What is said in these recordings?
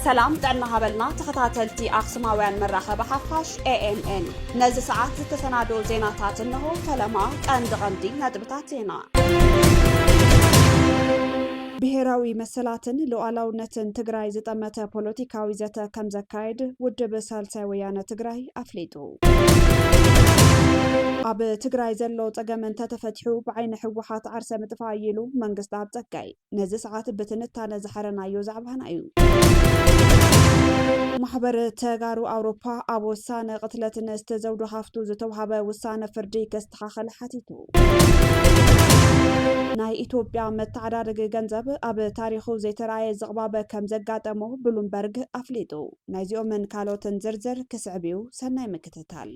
ሰላም ጥዕና ሃበልና ተኸታተልቲ ኣክሱማውያን መራኸቢ ሓፋሽ ኤኤምኤን ነዚ ሰዓት ዝተሰናደኡ ዜናታት እንሆ ፈለማ ቀንዲ ቀንዲ ነጥብታት ዜና ብሄራዊ መሰላትን ሉኣላውነትን ትግራይ ዝጠመተ ፖለቲካዊ ዘተ ከምዘካየድ ውድብ ሳልሳይ ወያነ ትግራይ ኣፍሊጡ። ኣብ ትግራይ ዘሎ ፀገም እንተተፈቲሑ ብዓይኒ ህወሓት ዓርሰ ምጥፋእ እዩ ኢሉ መንግስታኣብ ፀጋይ። ነዚ ሰዓት ብትንታነ ዝሓረናዮ ዛዕባና እዩ። ማሕበር ተጋሩ ኣውሮፓ ኣብ ወሳነ ቅትለት ንእስቲ ዘውዱ ሃፍቱ ዝተውሃበ ውሳነ ፍርዲ ከስተኻኸል ሓቲቱ። ናይ ኢትዮጵያ መተዓዳደጊ ገንዘብ ኣብ ታሪኹ ዘይተረኣየ ዝቕባበ ከም ዘጋጠሞ ብሉምበርግ ኣፍሊጡ። ናይዚኦምን ካልኦትን ዝርዝር ክስዕብ እዩ፣ ሰናይ ምክትታል።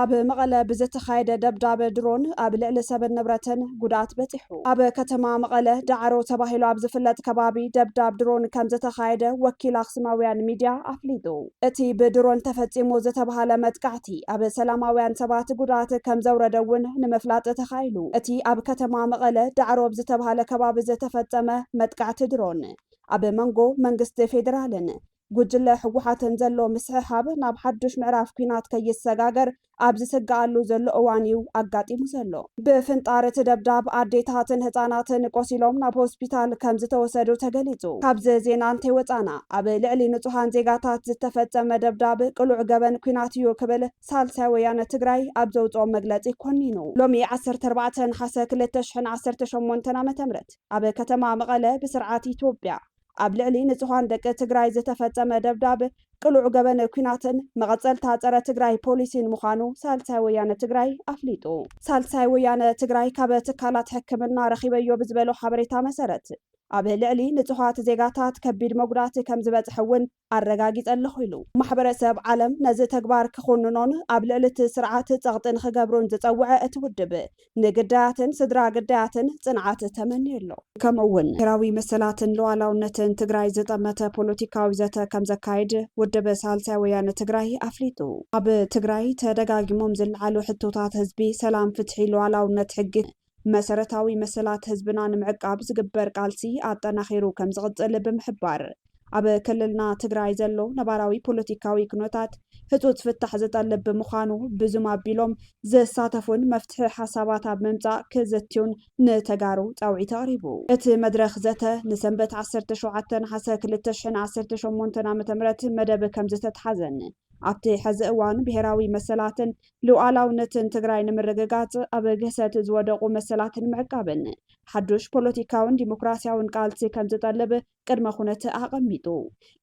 ኣብ መቐለ ብዝተኻየደ ደብዳብ ድሮን ኣብ ልዕሊ ሰብን ንብረትን ጉድኣት በፂሑ። ኣብ ከተማ መቐለ ዳዕሮ ተባሂሉ ኣብ ዝፍለጥ ከባቢ ደብዳብ ድሮን ከም ዝተኻየደ ወኪል ኣክሱማውያን ሚድያ ኣፍሊጡ። እቲ ብድሮን ተፈጺሙ ዝተብሃለ መጥቃዕቲ ኣብ ሰላማውያን ሰባት ጉድኣት ከምዘውረደ እውን ንምፍላጥ ተኻኢሉ። እቲ ኣብ ከተማ መቐለ ዳዕሮ ኣብ ዝተብሃለ ከባቢ ዝተፈጸመ መጥቃዕቲ ድሮን፣ ኣብ መንጎ መንግስቲ ፌደራልን ጉጅለ ህወሓትን ዘሎ ምስሕሓብ ናብ ሓዱሽ ምዕራፍ ኲናት ከይሰጋገር ኣብ ዝስገኣሉ ዘሎ እዋን እዩ ኣጋጢሙ ዘሎ። ብፍንጣር እቲ ደብዳብ ኣዴታትን ህፃናትን ቆሲሎም ናብ ሆስፒታል ከምዝተወሰዱ ተገሊፁ። ካብዚ ዜና እንተይወፃእና ኣብ ልዕሊ ንፁሃን ዜጋታት ዝተፈፀመ ደብዳብ ቅሉዕ ገበን ኲናት እዩ ክብል ሳልሳይ ወያነ ትግራይ ኣብ ዘውፅኦ መግለፂ ኮኒኑ። ሎሚ ዓሰርተ ኣርባዕተ ነሓሰ ክልተ ሽሕን ዓሰርተ ሸሞንተን ዓ.ም ኣብ ከተማ መቐለ ብስርዓት ኢትዮጵያ፣ ኣብ ልዕሊ ንፁሃን ደቂ ትግራይ ዝተፈፀመ ደብዳብ ቅሉዕ ገበን ኲናትን መቐፀልታ ፀረ ትግራይ ፖሊሲን ምዃኑ ሳልሳይ ወያነ ትግራይ ኣፍሊጡ። ሳልሳይ ወያነ ትግራይ ካብ ትካላት ሕክምና ረኺበዮ ብዝበሎ ሓበሬታ መሰረት ኣብ ልዕሊ ንፁሃት ዜጋታት ከቢድ መጉዳእቲ ከምዝበፅሐ እውን ኣረጋጊጸ ኣለኹ ኢሉ። ማሕበረሰብ ዓለም ነዚ ተግባር ክኹንኖን ኣብ ልዕሊ እቲ ስርዓት ጸቕጢ ንኽገብሩን ዝጸውዐ እቲ ውድብ፣ ንግዳያትን ስድራ ግዳያትን ጽንዓት ተመንዩ ኣሎ። ከምኡ እውን ብሄራዊ መሰላትን ሉኣላውነትን ትግራይ ዝጠመተ ፖለቲካዊ ዘተ ከም ዘካይድ ውድብ ሳልሳይ ወያነ ትግራይ ኣፍሊጡ። ኣብ ትግራይ ተደጋጊሞም ዝለዓሉ ሕቶታት ህዝቢ፣ ሰላም፣ ፍትሒ፣ ሉኣላውነት ሕጊ፣ መሰረታዊ መሰላት ህዝብና ንምዕቃብ ዝግበር ቃልሲ ኣጠናኺሩ ከምዝቕፅል ብምሕባር፣ ኣብ ክልልና ትግራይ ዘሎ ነባራዊ ፖለቲካዊ ኩነታት ህፁፅ ፍታሕ ዝጠልብ ብምዃኑ ብዙም ኣቢሎም ዝሳተፉን መፍትሒ ሓሳባት ኣብ ምምፃእ ክዝትዩን ንተጋሩ ፃውዒት ኣቕሪቡ። እቲ መድረኽ ዘተ ንሰንበት ዓሰርተ ሸውዓተ ነሓሰ ክልተ ሽሕን ዓሰርተ ሸሞንተን ዓ.ም መደብ ከምዝተትሓዘን ኣብቲ ሕዚ እዋን ብሄራዊ መሰላትን ሉኣላውነትን ትግራይ ንምርግጋፅ ኣብ ግህሰት ዝወደቑ መሰላት ንምዕቃብን ሓዱሽ ፖለቲካውን ዲሞክራሲያውን ቃልሲ ከምዝጠልብ ቅድመ ኩነት ኣቐሚጡ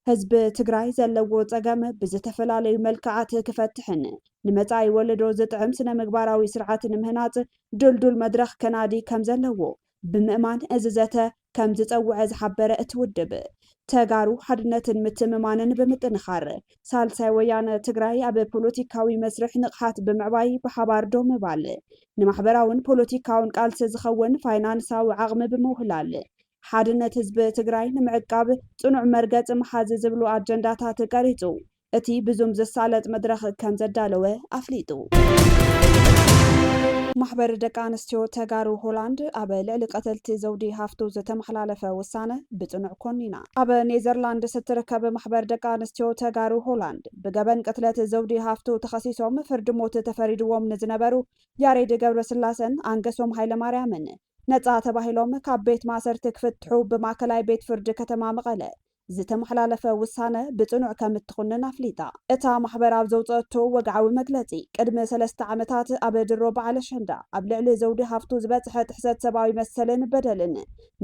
ህዝቢ ትግራይ ዘለዎ ፀገም ብዝተፈላለዩ መልክዓት ክፈትሕን ንመፃኢ ወለዶ ዝጥዕም ስነ ምግባራዊ ስርዓት ንምህናፅ ድልዱል መድረኽ ከናዲ ከምዘለዎ ብምእማን እዚ ዘተ ከም ዝፀውዐ ዝሓበረ እቲ ውድብ፣ ተጋሩ ሓድነትን ምትእምማንን ብምጥንኻር ሳልሳይ ወያነ ትግራይ ኣብ ፖለቲካዊ መስርሕ ንቕሓት ብምዕባይ ብሓባር ደው ምባል፣ ንማሕበራውን ፖለቲካውን ቃልሲ ዝኸውን ፋይናንሳዊ ዓቕሚ ብምውህላል ሓድነት ህዝቢ ትግራይ ንምዕቃብ ፅኑዕ መርገፂ ምሓዝ ዝብሉ ኣጀንዳታት ቀሪፁ እቲ ብዙም ዝሳለጥ መድረኽ ከምዘዳለወ ኣፍሊጡ። ማሕበር ደቂ ኣንስትዮ ተጋሩ ሆላንድ ኣብ ልዕሊ ቀተልቲ ዘውዲ ሃፍቱ ዝተመሓላለፈ ውሳነ ብፅኑዕ ኮኒና። ኣብ ኔዘርላንድስ እትርከብ ማሕበር ደቂ ኣንስትዮ ተጋሩ ሆላንድ ብገበን ቅትለት ዘውዲ ሃፍቱ ተኸሲሶም ፍርዲ ሞት ተፈሪድዎም ንዝነበሩ ያሬድ ገብረስላሰን ኣንገሶም ሃይለማርያምን ነፃ ተባሂሎም ካብ ቤት ማእሰርቲ ክፍትሑ ብማእከላይ ቤት ፍርዲ ከተማ መቐለ ዝተመሓላለፈ ውሳነ ብጽኑዕ ከም እትኹንን ኣፍሊጣ። እታ ማሕበር ኣብ ዘውጸአቶ ወግዓዊ መግለጺ፣ ቅድሚ ሰለስተ ዓመታት ኣብ ድሮ በዓል ኣሸንዳ ኣብ ልዕሊ ዘውዲ ሃፍቱ ዝበጽሐ ጥሕሰት ሰብኣዊ መሰልን በደልን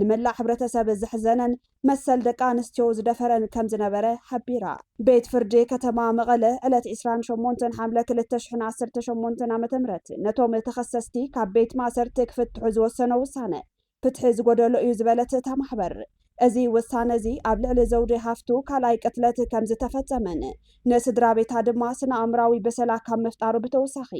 ንመላእ ሕብረተሰብ ዘሕዘነን መሰል ደቂ ኣንስትዮ ዝደፈረን ከም ዝነበረ ሓቢራ። ቤት ፍርዲ ከተማ መቐለ ዕለት ዕስራን ሸሞንተን ሓምለ ክልተ ሽሕን ዓሰርተ ሸሞንተን ዓመተ ምህረት ነቶም ተኸሰስቲ ካብ ቤት ማእሰርቲ ክፍትሑ ዝወሰኖ ውሳነ ፍትሒ ዝጎደሎ እዩ ዝበለት እታ ማሕበር፣ እዚ ውሳነ እዚ ኣብ ልዕሊ ዘውዴ ሃፍቱ ካልኣይ ቅትለት ከም ዝተፈጸመን ንስድራቤታ ድማ ስነ-ኣእምራዊ ብሰላ ካብ ምፍጣሩ ብተወሳኺ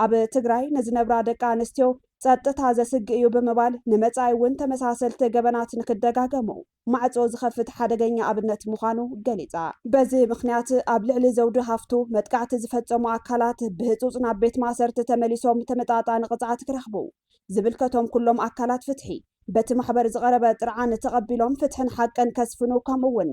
ኣብ ትግራይ ንዝነብራ ደቂ ኣንስትዮ ጸጥታ ዘስግእ እዩ ብምባል ንመጻኢ እውን ተመሳሰልቲ ገበናት ንክደጋገሙ ማዕጾ ዝኸፍት ሓደገኛ ኣብነት ምዃኑ ገሊጻ። በዚ ምኽንያት ኣብ ልዕሊ ዘውዲ ሃፍቱ መጥቃዕቲ ዝፈጸሙ ኣካላት ብህጹጽ ናብ ቤት ማእሰርቲ ተመሊሶም ተመጣጣኒ ቅጽዓት ክረኽቡ፣ ዝብልከቶም ኩሎም ኣካላት ፍትሒ በቲ ማሕበር ዝቐረበ ጥርዓን ተቐቢሎም ፍትሕን ሓቅን ከስፍኑ ከምኡ'ውን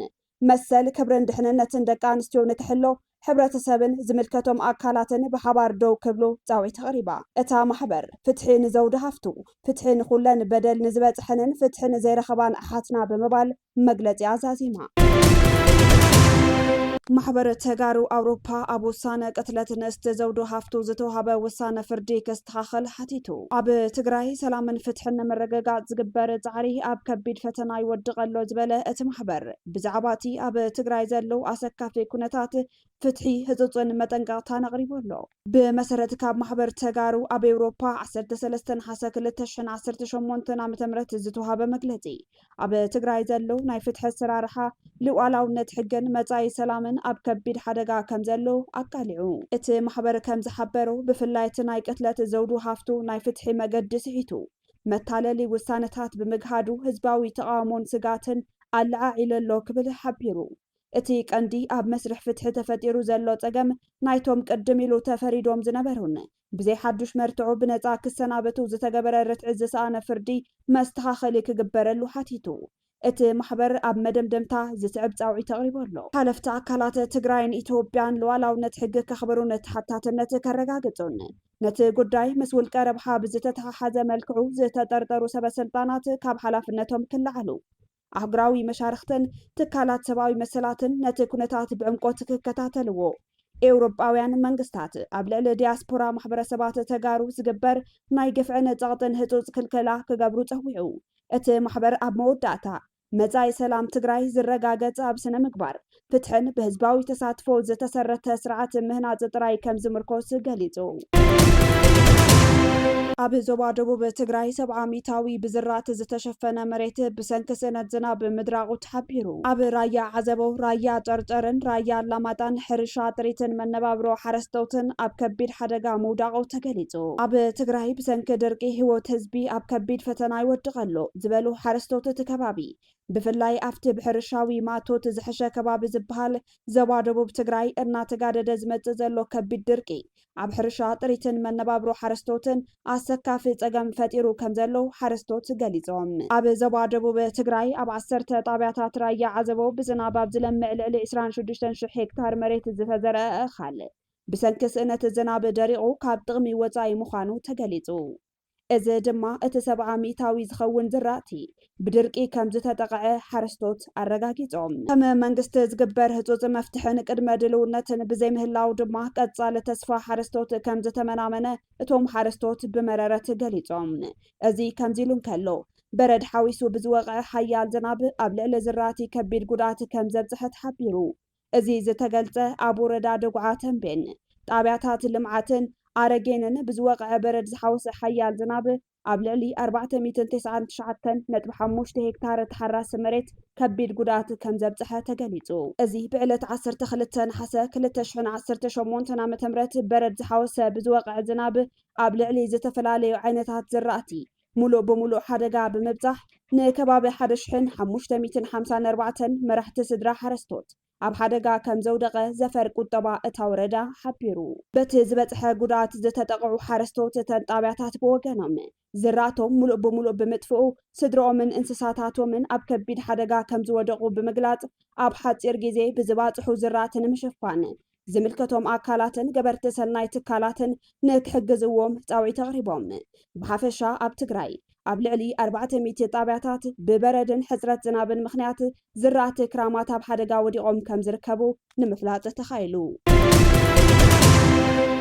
መሰል፣ ክብርን ድሕንነትን ደቂ ኣንስትዮ ንክሕሎ ሕብረተሰብን ዝምልከቶም ኣካላትን ብሓባር ደው ክብሉ ፃውዒት ኣቕሪባ። እታ ማሕበር፣ ፍትሒ ንዘውዲ ሃፍቱ፣ ፍትሒ ንኹለን በደል ንዝበፅሐንን ፍትሒ ንዘይረኸባን ኣሓትና ብምባል መግለፂኣ ዛዚማ። ማሕበር ተጋሩ ኣውሮፓ ኣብ ውሳነ ቅትለት ንእስቲ ዘውዱ ሃፍቱ ዝተውሃበ ውሳነ ፍርዲ ክስ። ክተኻኸል ሓቲቱ። ኣብ ትግራይ ሰላምን ፍትሕን ንምርግጋፅ ዝግበር ፃዕሪ ኣብ ከቢድ ፈተና ይወድቕ ኣሎ ዝበለ እቲ ማሕበር፣ ብዛዕባ እቲ ኣብ ትግራይ ዘሎ ኣሰካፊ ኩነታት ፍትሒ ህፁፅን መጠንቀቕታን ኣቕሪቡ ኣሎ። ብመሰረት ካብ ማሕበር ተጋሩ ኣብ ኤውሮፓ ዓሰርተ ሰለስተ ነሓሰ ክልተ ሽሕን ዓሰርተ ሸሞንተን ዓመተ ምህረት ዝተውሃበ መግለፂ፣ ኣብ ትግራይ ዘሎ ናይ ፍትሒ ኣሰራርሓ፣ ልኡኣላውነት ሕግን መጻኢ ሰላምን ኣብ ከቢድ ሓደጋ ከም ዘሎ ኣቃሊዑ። እቲ ማሕበር ከም ዝሓበሮ፣ ብፍላይ እቲ ናይ ቅትለት ዘውዱ ሃፍቱ ናይ ፍትሒ መገዲ ስሒቱ፣ መታለሊ ውሳነታት ብምግሃዱ ህዝባዊ ተቓውሞን ስግኣትን ኣለዓዒሉ ኣሎ ክብል ሓቢሩ። እቲ ቀንዲ ኣብ መስርሕ ፍትሒ ተፈጢሩ ዘሎ ጸገም፣ ናይቶም ቅድም ኢሉ ተፈሪዶም ዝነበሩን ብዘይ ሓዱሽ መርትዖ ብነጻ ክሰናበቱ ዝተገበረ ርትዒ ዝሰኣነ ፍርዲ መስተኻኸሊ ክግበረሉ ሓቲቱ። እቲ ማሕበር ኣብ መደምደምታ ዝስዕብ ጻውዒት ኣቕሪቡ ኣሎ። ሓለፍቲ ኣካላት ትግራይን ኢትዮጵያን ሉኣላውነት ሕጊ ከኽብሩን ተሓታትነት ከረጋግጹን፣ ነቲ ጉዳይ ምስ ውልቀ ረብሓ ብዝተተሓሓዘ መልክዑ ዝተጠርጠሩ ሰበ ስልጣናት ካብ ሓላፍነቶም ክለዓሉ፣ ኣህጉራዊ መሻርኽትን ትካላት ሰብኣዊ መሰላትን ነቲ ኩነታት ብዕምቆት ክከታተልዎ፣ ኤውሮጳውያን መንግስታት ኣብ ልዕሊ ዲያስፖራ ማሕበረሰባት ተጋሩ ዝግበር ናይ ግፍዕን ጸቕጥን ህጹጽ ክልከላ ክገብሩ ጸዊዑ። እቲ ማሕበር ኣብ መወዳእታ፣ መጻኢ ሰላም ትግራይ ዝረጋገጽ ኣብ ስነ-ምግባር፣ ፍትሕን ብህዝባዊ ተሳትፎ ዝተሰረተ ስርዓት ምህናፅ ጥራይ ከም ዝምርኮስ ገሊፁ። ኣብ ዞባ ደቡብ ትግራይ ሰብዓ ሚታዊ ብዝራእቲ ዝተሸፈነ መሬት ብሰንኪ ስእነት ዝናብ ምድራቑ ተሓቢሩ። ኣብ ራያ ዓዘቦ፣ ራያ ጨርጨርን ራያ ኣላማጣን ሕርሻ ጥሪትን መነባብሮ ሓረስተውትን ኣብ ከቢድ ሓደጋ ምውዳቑ ተገሊፁ። ኣብ ትግራይ ብሰንኪ ድርቂ ህይወት ህዝቢ ኣብ ከቢድ ፈተና ይወድቕ ኣሎ ዝበሉ ሓረስተውት እቲ ከባቢ ብፍላይ ኣብቲ ብሕርሻዊ ማእቶት ዝሕሸ ከባቢ ዝበሃል ዘባ ደቡብ ትግራይ እናተጋደደ ዝመፅእ ዘሎ ከቢድ ድርቂ ኣብ ሕርሻ ጥሪትን መነባብሮ ሓረስቶትን ኣሰካፊ ፀገም ፈጢሩ ከምዘሎ ሓረስቶት ገሊፆም። ኣብ ዘባ ደቡብ ትግራይ ኣብ ዓሰርተ ጣብያታት ራያ ዓዘቦ ብዝናብ ኣብ ዝለምዕ ልዕሊ ዕስራን ሽዱሽተን ሽሕ ሄክታር መሬት ዝተዘርኣ እኻል ብሰንኪ ስእነት ዝናብ ደሪቑ ካብ ጥቕሚ ወፃኢ ምዃኑ ተገሊፁ። እዚ ድማ እቲ ሰብዓ ሚእታዊ ዝኸውን ዝራእቲ ብድርቂ ከም ዝተጠቐዐ ሓረስቶት ኣረጋጊፆም። ከም መንግስቲ ዝግበር ህፁፅ መፍትሕን ቅድመ ድልውነትን ብዘይምህላው ድማ ቀፃሊ ተስፋ ሓረስቶት ከም ዝተመናመነ እቶም ሓረስቶት ብመረረት ገሊፆም። እዚ ከምዚ ኢሉ እንከሎ በረድ ሓዊሱ ብዝወቕዐ ሓያል ዝናብ ኣብ ልዕሊ ዝራእቲ ከቢድ ጉድኣት ከም ዘብፀሐ ተሓቢሩ። እዚ ዝተገልፀ ኣብ ወረዳ ደጉዓ ተምቤን ጣብያታት ልምዓትን ኣረጌንን ብዝወቕዐ በረድ ዝሓወሰ ሓያል ዝናብ ኣብ ልዕሊ ኣርባዕተ ሚእትን ተስዓን ትሽዓተን ነጥቢ ሓሙሽተ ሄክታር ተሓራሲ መሬት ከቢድ ጉድኣት ከምዘብፀሐ ተገሊፁ። እዚ ብዕለት ዓሰርተ ክልተ ነሓሰ ክልተ ሽሕን ዓሰርተ ሸሞንተን ዓ ም በረድ ዝሓወሰ ብዝወቕዐ ዝናብ ኣብ ልዕሊ ዝተፈላለዩ ዓይነታት ዝራእቲ ሙሉእ ብሙሉእ ሓደጋ ብምብፃሕ ንከባቢ ሓደ ሽሕን ሓሙሽተ ሚእትን ሓምሳን ኣርባዕተን መራሕቲ ስድራ ሓረስቶት ኣብ ሓደጋ ከምዘውደቐ ዘፈር ቁጠባ እታ ወረዳ ሓቢሩ። በቲ ዝበፅሐ ጉድኣት ዝተጠቐዑ ሓረስቶት እተን ጣብያታት ብወገኖም ዝራእቶም ሙሉእ ብሙሉእ ብምጥፍኡ ስድርኦምን እንስሳታቶምን ኣብ ከቢድ ሓደጋ ከምዝወደቑ ብምግላፅ ኣብ ሓፂር ጊዜ ብዝባፅሑ ዝራእቲ ንምሽፋን ዝምልከቶም ኣካላትን ገበርቲ ሰናይ ትካላትን ንክሕግዝዎም ፃውዒት ኣቕሪቦም። ብሓፈሻ ኣብ ትግራይ ኣብ ልዕሊ ኣርባዕተ ሚእቲ ጣብያታት ብበረድን ሕፅረት ዝናብን ምኽንያት ዝራእቲ ክራማት ኣብ ሓደጋ ወዲቖም ከምዝርከቡ ንምፍላጥ ተኻኢሉ።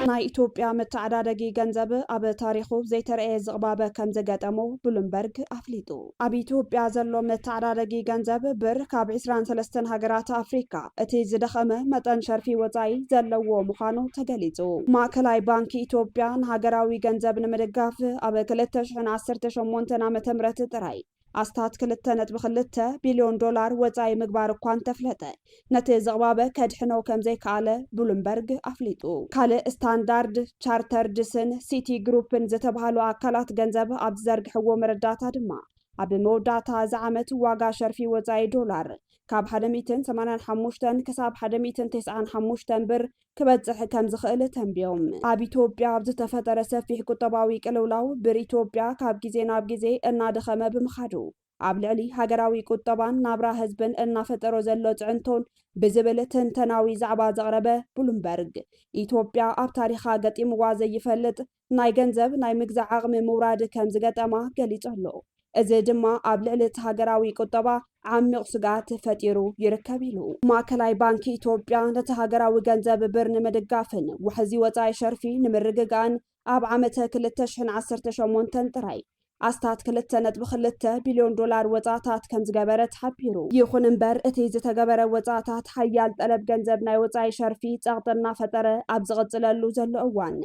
ናይ ኢትዮጵያ መተዓዳደጊ ገንዘብ ኣብ ታሪኹ ዘይተረኣየ ዝቕባበ ከምዝገጠሞ ብሉምበርግ ኣፍሊጡ። ኣብ ኢትዮጵያ ዘሎ መተዓዳደጊ ገንዘብ ብር ካብ ዕስራን ሰለስተን ሃገራት ኣፍሪካ እቲ ዝደኸመ መጠን ሸርፊ ወፃኢ ዘለዎ ምዃኑ ተገሊፁ። ማእከላይ ባንኪ ኢትዮጵያ ንሃገራዊ ገንዘብ ንምድጋፍ ኣብ ክልተ ሽሕን ዓሰርተ ሸሞንተን ዓመተ ምህረት ጥራይ ኣስታት ክልተ ነጥቢ ክልተ ቢልዮን ዶላር ወፃኢ ምግባር እኳ እንተፍለጠ ነቲ ዝቕባበ ከድሕኖ ከምዘይከኣለ ብሉምበርግ ኣፍሊጡ። ካልእ ስታንዳርድ ቻርተርድስን ሲቲ ግሩፕን ዝተብሃሉ ኣካላት ገንዘብ ኣብ ዝዘርግሕዎ መረዳእታ ድማ ኣብ መወዳእታ እዚ ዓመት ዋጋ ሸርፊ ወጻኢ ዶላር ካብ ሓደ ሚእትን ሰማንያን ሓሙሽተን ክሳብ ሓደ ሚእትን ተስዓን ሓሙሽተን ብር ክበጽሕ ከምዝኽእል ተንብዮም። ኣብ ኢትዮጵያ ኣብ ዝተፈጠረ ሰፊሕ ቁጠባዊ ቅልውላው ብር ኢትዮጵያ ካብ ግዜ ናብ ግዜ እናደኸመ ብምኻዱ ኣብ ልዕሊ ሃገራዊ ቁጠባን ናብራ ህዝብን እናፈጠሮ ዘሎ ፅዕንቶን ብዝብል ትንተናዊ ዛዕባ ዘቕረበ ብሉምበርግ፣ ኢትዮጵያ ኣብ ታሪኻ ገጢምዋ ዘይፈልጥ ናይ ገንዘብ ናይ ምግዛእ ዓቕሚ ምውራድ ከምዝገጠማ ገሊፁ ኣሎ። እዚ ድማ ኣብ ልዕሊ እቲ ሃገራዊ ቁጠባ ዓሚቕ ስግኣት ፈጢሩ ይርከብ ኢሉ። ማእከላይ ባንኪ ኢትዮጵያ ነቲ ሃገራዊ ገንዘብ ብር ንምድጋፍን ዋሕዚ ወፃኢ ሸርፊ ንምርግጋእን ኣብ ዓመተ ክልተ ሽሕን ዓሰርተ ሸሞንተን ጥራይ ኣስታት ክልተ ነጥቢ ክልተ ቢልዮን ዶላር ወጻእታት ከም ዝገበረ ተሓቢሩ። ይኹን እምበር እቲ ዝተገበረ ወጻእታት ሓያል ጠለብ ገንዘብ ናይ ወጻኢ ሸርፊ ጸቕጢ እናፈጠረ ኣብ ዝቕጽለሉ ዘሎ እዋን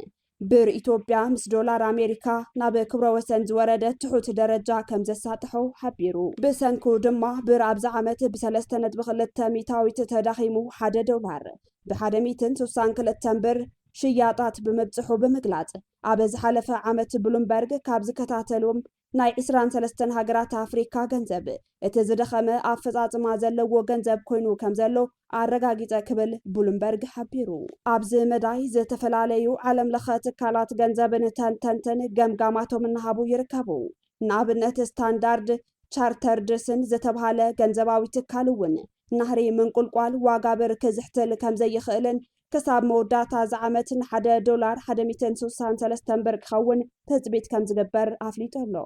ብር ኢትዮጵያ ምስ ዶላር ኣሜሪካ ናብ ክብረ ወሰን ዝወረደ ትሑት ደረጃ ከም ዘሳጥሖ ሓቢሩ። ብሰንኩ ድማ ብር ኣብዚ ዓመት ብሰለስተ ነጥቢ ክልተ ሚእታዊት ተዳኺሙ ሓደ ዶላር ብሓደ ሚእትን ሱሳን ክልተን ብር ሽያጣት ብምብጽሑ ብምግላጽ፣ ኣብ ዝሓለፈ ዓመት ብሉምበርግ ካብ ዝከታተሉዎም ናይ ዕስራን ሰለስተን ሃገራት ኣፍሪካ ገንዘብ እቲ ዝደኸመ ኣፈጻጽማ ዘለዎ ገንዘብ ኮይኑ ከምዘሎ ኣረጋጊጸ ክብል ብሉምበርግ ሓቢሩ። ኣብዚ መዳይ ዝተፈላለዩ ዓለም ለኸ ትካላት ገንዘብን ተንተንትን ገምጋማቶም እናሃቡ ይርከቡ። ንኣብነት ስታንዳርድ ቻርተርድስን ዝተብሃለ ገንዘባዊ ትካል እውን ናህሪ ምንቁልቋል ዋጋ ብር ክዝሕትል ከምዘይኽእልን ክሳብ መወዳእታ እዚ ዓመት ንሓደ ዶላር ሓደ ሚእትን ስሳን ሰለስተን ብር ክኸውን ትፅቢት ከምዝግበር ኣፍሊጡ ኣሎ።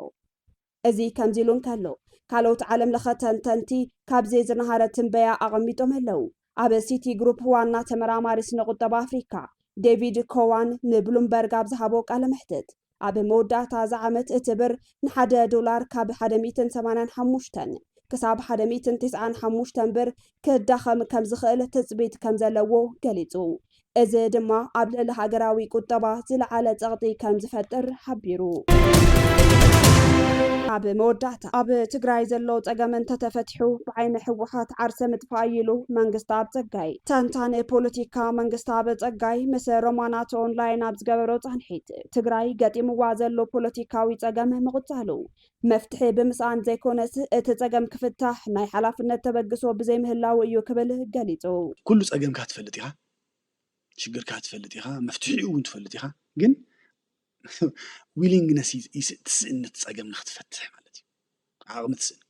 እዚ ከምዚ ኢሉ እንከሎ ካልኦት ዓለም ለኸ ተንተንቲ ካብዚ ዝነሃረ ትንበያ ኣቐሚጦም ኣለው። ኣብ ሲቲ ግሩፕ ዋና ተመራማሪ ስነ ቁጠባ ኣፍሪካ ዴቪድ ኮዋን ንብሉምበርግ ኣብ ዝሃቦ ቃለ መሕትት ኣብ መወዳእታ እዚ ዓመት እቲ ብር ንሓደ ዶላር ካብ ሓደ ሚእትን ሰማንያን ሓሙሽተን ክሳብ ሓደ ሚእትን ትስዓን ሓሙሽተን ብር ክዳኸም ከምዝኽእል ትፅቢት ከምዘለዎ ገሊፁ። እዚ ድማ ኣብ ልዕሊ ሃገራዊ ቁጠባ ዝለዓለ ፀቕጢ ከምዝፈጥር ሓቢሩ። ኣብ መወዳእታ ኣብ ትግራይ ዘሎ ፀገም እንተተፈቲሑ ብዓይኒ ህወሓት ዓርሰ ምጥፋእ እዩ ኢሉ መንግስተኣብ ፀጋይ። ተንታኒ ፖለቲካ መንግስተኣብ ፀጋይ ምስ ሮማናት ኦንላይን ኣብ ዝገበሮ ፃንሒት፣ ትግራይ ገጢምዋ ዘሎ ፖለቲካዊ ፀገም ምቕፃሉ መፍትሒ ብምስኣን ዘይኮነስ እቲ ፀገም ክፍታሕ ናይ ሓላፍነት ተበግሶ ብዘይምህላዉ እዩ ክብል ገሊፁ። ኩሉ ፀገምካ ትፈልጥ ኢኻ፣ ሽግርካ ትፈልጥ ኢኻ፣ መፍትሒኡ እውን ትፈልጥ ኢኻ ግን ዊሊንግነስ ትስእን ነቲ ፀገም ንክትፈትሕ ማለት እዩ ዓቕሚ ትስእን።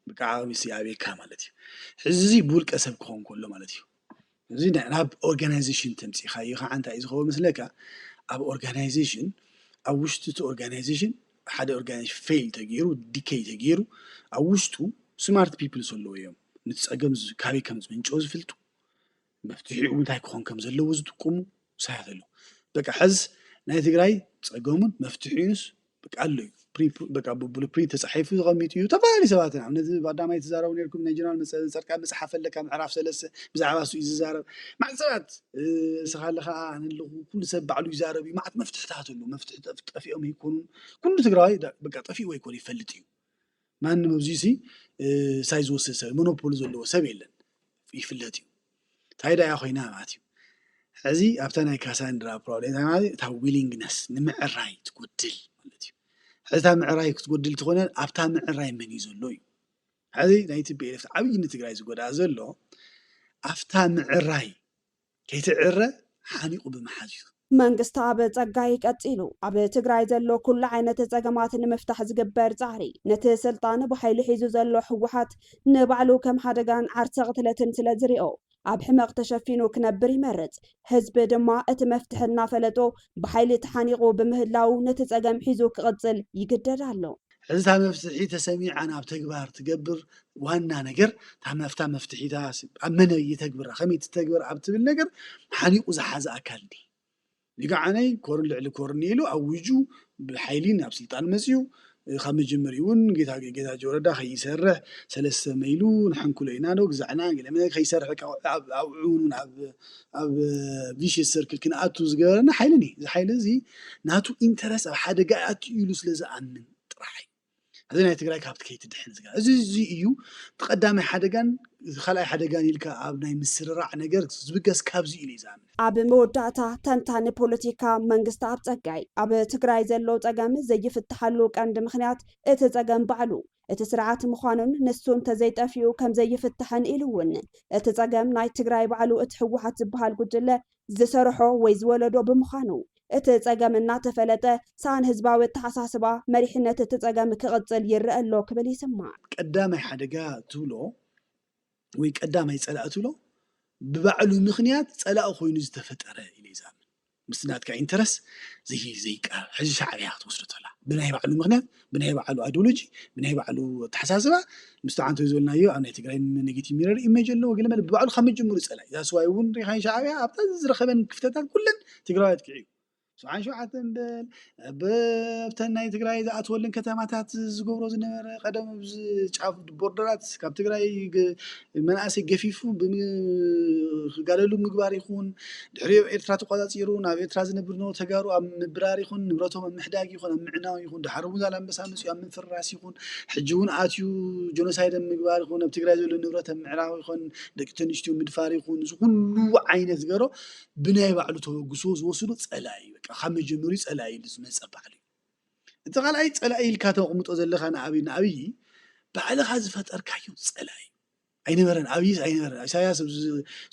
ብቃዓውሲ ኣቤካ ማለት እዩ ሕዚ እዙይ ብውልቀ ሰብ ክኾን ከሎ ማለት እዩ እዚ ናብ ኦርጋናይዜሽን ተምፂኻዮ ከዓ እንታይ እዩ ዝኸውን ምስለካ ኣብ ኦርጋናይዜሽን ኣብ ውሽጢ እቲ ኦርጋናይዜሽን ሓደ ኦርጋናይዜሽን ፌል ተገይሩ ዲከይ ተገይሩ ኣብ ውሽጡ ስማርት ፒፕልስ ኣለዎ እዮም ንቲ ፀገም ካበይ ከም ዝምንጮ ዝፍልጡ መፍትሒኡ እንታይ ክኾን ከም ዘለዎ ዝጥቁሙ ውሳያት ኣለዉ። በቃ ሕዝ ናይ ትግራይ ጸገሙን መፍትሒኡንስ በቃ ኣሎ እዩ። በቃ ብሉፕሪንት ተጻሒፉ ዝቐሚጡ እዩ። ተፈላለዩ ሰባት ኢና ነዚ ባዳማይ ትዛረቡ ነርኩም ናይ ጀነራል ጸርቃ መጽሓፍ ኣለካ ምዕራፍ ሰለስተ ብዛዕባ እሱ እዩ ዝዛረብ ማዕት ሰባት እስኻ ኣለኻ ኣለኹ ኩሉ ሰብ ባዕሉ ይዛረብ እዩ ማዕት መፍትሕታት ኣሎ መፍትሒ ጠፊኦም ይኮኑ ኩሉ ትግራዋይ በቃ ጠፊኡ ወይ ኮን ይፈልጥ እዩ ማንም ኣብዚ'ሲ ሳይድ ዝወስድ ሰብ ሞኖፖሊ ዘለዎ ሰብ የለን ይፍለጥ እዩ። ታይ ዳኣ ኮይና ማለት እዩ ሕዚ ኣብታ ናይ ካሳንድራ ፕሮብሌም ታይ ማለት እታ ዊሊንግነስ ንምዕራይ ትጎድል ማለት እዩ። ሕዚ እታ ምዕራይ ክትጎድል ትኾነ ኣብታ ምዕራይ መን እዩ ዘሎ እዩ ሕዚ ናይ ቲፒኤልኤፍ ዓብዪ ንትግራይ ዝጎድኣ ዘሎ ኣብታ ምዕራይ ከይትዕረ ሓኒቑ ብምሓዝ እዩ። መንግስተኣብ ፀጋይ ቀፂሉ ኣብ ትግራይ ዘሎ ኩሉ ዓይነት ፀገማት ንምፍታሕ ዝግበር ፃዕሪ ነቲ ስልጣን ብሓይሊ ሒዙ ዘሎ ህወሓት ንባዕሉ ከም ሓደጋን ዓርሰ ቕትለትን ስለ ዝሪኦ ኣብ ሕመቕ ተሸፊኑ ክነብር ይመርፅ። ህዝቢ ድማ እቲ መፍትሒ እናፈለጦ ብሓይሊ ተሓኒቑ ብምህላዉ ነቲ ፀገም ሒዙ ክቕፅል ይግደድ ኣሎ። ሕዚ እታ መፍትሒ ተሰሚዓ ናብ ተግባር ትገብር ዋና ነገር ታመፍታ መፍትሒታ ኣብ መነ ይተግብራ ከመይ ትተግበር ኣብ ትብል ነገር ሓኒቑ ዝሓዘ ኣካል እንዲ ንግዓነይ ኮርን ልዕሊ ኮርን ኢሉ ኣዊጁ ብሓይሊ ናብ ስልጣን መፅኡ ካብ መጀመሪ እውን ጌታ ጌታ ጆረዳ ከይሰርሕ ሰለስተ መይሉ ንሕንኩሎ ኢና ዶ ግዛዕና ገለመ ከይሰርሕ ኣብዑን ኣብ ኣብ ቪሽየስ ሰርክል ክንኣቱ ዝገበረና ሓይልን እዩ። እዚ ሓይሊ እዚ ናቱ ኢንተረስ ኣብ ሓደጋ ይኣቱ ኢሉ ስለ ዝኣምን ጥራሕ እዩ እዚ ናይ ትግራይ ካብቲ ከይትድሕን ዝገ እዚ እዚ እዩ እቲ ቀዳማይ ሓደጋን እዚ ካልኣይ ሓደጋን ኢልካ ኣብ ናይ ምስርራዕ ነገር ዝብገስ ካብዚ ኢሉ እዩ ዝኣምን። ኣብ መወዳእታ ተንታኒ ፖለቲካ መንግስተኣብ ፀጋይ፣ ኣብ ትግራይ ዘሎ ፀገም ዘይፍትሓሉ ቀንዲ ምኽንያት እቲ ፀገም ባዕሉ እቲ ስርዓት ምዃኑን ንሱ እንተዘይጠፊኡ ከምዘይፍታሕን ኢሉ እውን እቲ ፀገም ናይ ትግራይ ባዕሉ እቲ ህወሓት ዝበሃል ጉጅለ ዝሰርሖ ወይ ዝወለዶ ብምዃኑ እቲ ፀገም እናተፈለጠ ሰኣን ህዝባዊ ኣተሓሳስባ መሪሕነት እቲ ፀገም ክቕፅል ይረኣ ኣሎ ክብል ይስማዕ። ቀዳማይ ሓደጋ ትብሎ ወይ ቀዳማይ ጸላኢ ትብሎ ብባዕሉ ምክንያት ጸላኢ ኮይኑ ዝተፈጠረ ኢለ ይዛምን ምስቲ ናትካ ኢንተረስ ዘይቃ ሕዚ ሻዕብያ ክትወስዶ ተላ ብናይ ባዕሉ ምክንያት ብናይ ባዕሉ ኣዲሎጂ ብናይ ባዕሉ ኣተሓሳስባ ምስቲ ዓንተ ዝበልናዮ ኣብ ናይ ትግራይ ኔጌቲ ሚረር ኢሜጅ ኣለዎ ገለ መለ ብባዕሉ ካብ መጀመሩ ፀላ ዛስዋይ እውን ሪኻን ሻዕብያ ኣብታ ዝረኸበን ክፍተታት ኩለን ትግራዋያት ክዕዩ ሰብዓን ሸውዓተን በል ኣብ ኣብተን ናይ ትግራይ ዝኣትወልን ከተማታት ዝገብሮ ዝነበረ ቀደም ኣብዚ ጫፍ ቦርደራት ካብ ትግራይ ገ- መናእሰይ ገፊፉ ብም- ክጋደሉ ምግባር ይኹን ድሕሪኡ ኣብ ኤርትራ ተቋጻጺሩ ናብ ኤርትራ ዝነብር ዝነበሩ ተጋሩ ኣብ ምብራር ይኹን ንብረቶም ኣብ ምሕዳግ ይኹን ኣብ ምዕናው ይኹን ድሓር እውን ዛላምበሳ መጺኡ ኣብ ምፍራስ ይኹን ሕጂ እውን ኣትዩ ጆኖሳይድ ኣብ ምግባር ይኹን ኣብ ትግራይ ዘሎ ንብረት ኣብ ምዕራብ ይኹን ደቂ ተንስትዮ ምድፋር ይኹን እዚ ኩሉ ዓይነት ዝገሮ ብናይ ባዕሉ ተበግሶ ዝወስዶ ጸላኢ እዩ በቃ ካብ መጀመርዩ ጸላኢ ኢሉ ዝመጸ ባዕሉ እዩ እቲ ካልኣይ ጸላኢ ኢልካ ተቕምጦ ዘለካ ንኣብይ ንኣብይ ባዕልኻ ዝፈጠርካዮ ጸላኢ ኣይነበረን ኣብይስ ኣይነበረን ኢሳያስ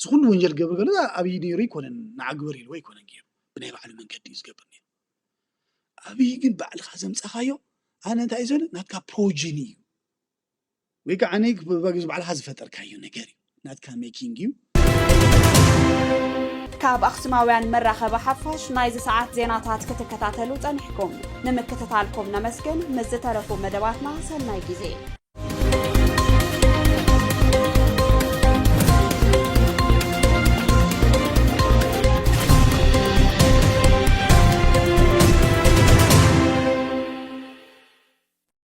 ዝኩሉ ወንጀል ገብር ከሎ ኣብይ ነይሩ ኣይኮነን ንዓግበር ኢልዎ ኣይኮነን ገይሩ ብናይ ባዕሉ መንገዲ እዩ ዝገብር ነይሩ ኣብይ ግን ባዕልኻ ዘምጻኻዮ ኣነ እንታይ እዩ ዘለ ናትካ ፕሮጅን እዩ ወይ ከዓ ብበግዝ ባዕልኻ ዝፈጠርካዮ ነገር እዩ ናትካ ሜኪንግ እዩ። ካብ ኣኽሱማውያን መራኸቢ ሓፋሽ ናይዚ ሰዓት ዜናታት ክትከታተሉ ጸኒሕኩም ንምክትታልኩም ነመስግን። ምስ ዝተረፉ መደባትና ሰናይ ግዜ